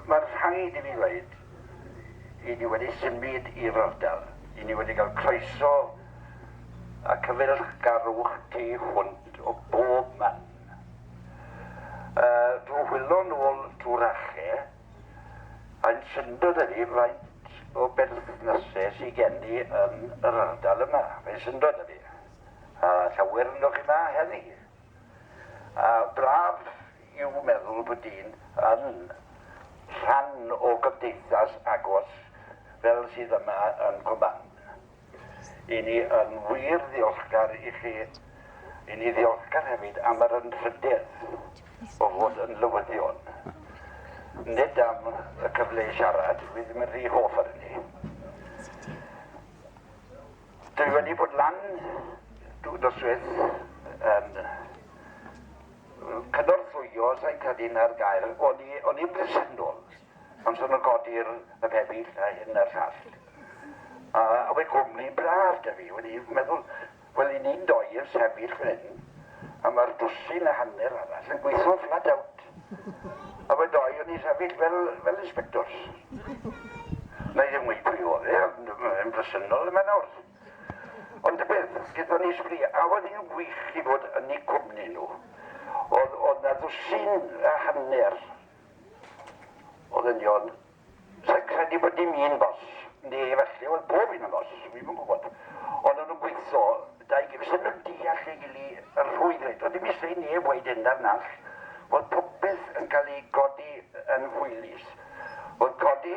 Mae'n rhaid i mi ddweud, i ni wedi symud i'r ardal, i ni wedi cael croeso a cyfeillgarwch tu hwnt o bob man. Drwy hwylo nôl drwy'r ACHE, ein syndod ydy faint o berthnasau sydd gen ni yn yr ardal yma, ein syndod ydy, a llawer ynoch chi yma heddi, a braf yw meddwl bod dyn yn rhan o gymdeithas agos fel sydd yma yn Cwmban. I ni yn wir ddiolchgar i chi. I ni ddiolchgar hefyd am yr anrhydedd o fod yn lywyddion. Nid am y cyfle i siarad, dwi ddim yn rhy hoff ar hynny. Dwi wedi bod lan dwy noswaith yn Cynorthwyo sain cadin ar gael, o'n i o'n i'n bresennol am sôn o godi'r y pebyll a hyn a'r llall. A, a we gwmni braf da fi, wedi meddwl, wel i ni'n doi yn sefyll fan hyn, a mae'r dwsin a hanner arall yn gweithio flat out. A we doi o'n i'n sefyll fel, fel inspectors. Na i ddim wedi pwy oedd e, ond yn bresennol yma nawr. Ond y peth gyda ni sbri, a oedd hi'n wych i fod yn eu cwmni nhw, oedd oedd 'na ddwsin a hanner o ddynion, sa'n credu bod dim un boss, neu efallai oedd pob un yn boss, dwi'm yn gwybod, ond o'n nhw'n gweithio, dau gi- fysen nhw'n deall ei gili yn rhwydd reit, oedd dim isie i neb weud hyn na'r nall, oedd popeth yn cael ei godi yn hwylus, oedd codi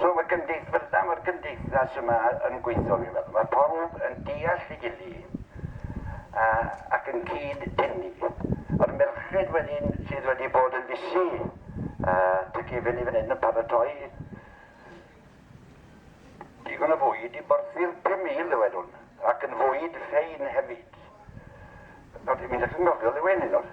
So mae'r gymdeith- fel yna mae'r gymdeithas yma yn gweithio fi'n meddwl. Mae pawb yn deall ei gily a ac yn cyd dynnu. A'r merched wedyn sydd wedi bod yn fysu a ty cefn i fan hyn yn paratoi digon o fwyd i borthi'r 5,000 ddywedwn ac yn fwyd ffein hefyd. Nawr, mi ddechrau'n nofio ddiwen hyn nawr.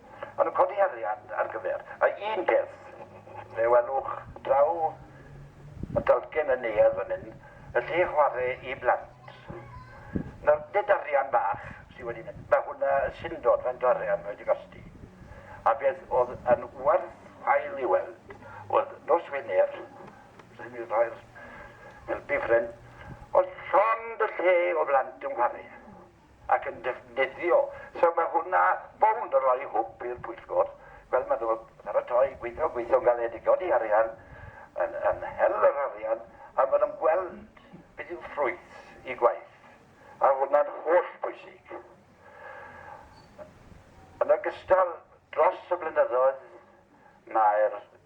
Maen nhw'n codi arian ar gyfer. A un peth, fe welwch draw y dalcen yn neuadd fan hyn, y lle chwarae i blant. Nawr, nid arian bach sydd wedi mynd, mae hwnna yn syndod faint o arian mae wedi costi. A beth oedd yn werth chwail i weld oedd nos Wener, sy'n mynd rhoi'r helpu ffrind, oedd llond y lle o blant yn chwarae. ac yn defnyddio. So mae hwnna bownd yn rhoi hwb i'r pwyllgor, fel maen nhw'n paratoi, gweithio, gweithio'n galed i godi arian, yn yn hel yr arian, a maen nhw'n gweld beth yw ffrwyth eu gwaith, a hwnna'n holl bwysig. Yn ogystal, dros y blynyddoedd, mae'r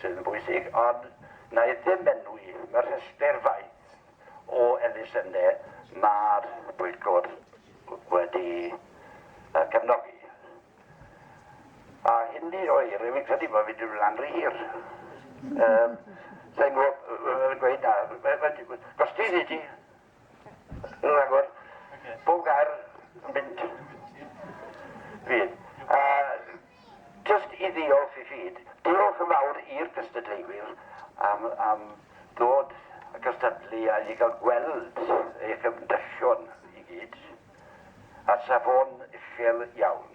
sydd yn bwysig, ond na i ddim enwi mewn rhestr faint o elusennau mae'r Pwyllgor wedi cefnogi. A hynny oer, rwy'n credu bod fi'n mynd lan rhy hir. Sa'n gwybod, gweud na, gostini ti. Rhagor. Bob gair yn mynd. Fydd. Uh, just i ddiolch i fyd. Diolch yn fawr i'r gystadleuwyr am, am ddod y gystadlu a i gael gweld eich ymdrechion i gyd. A safon uchel iawn.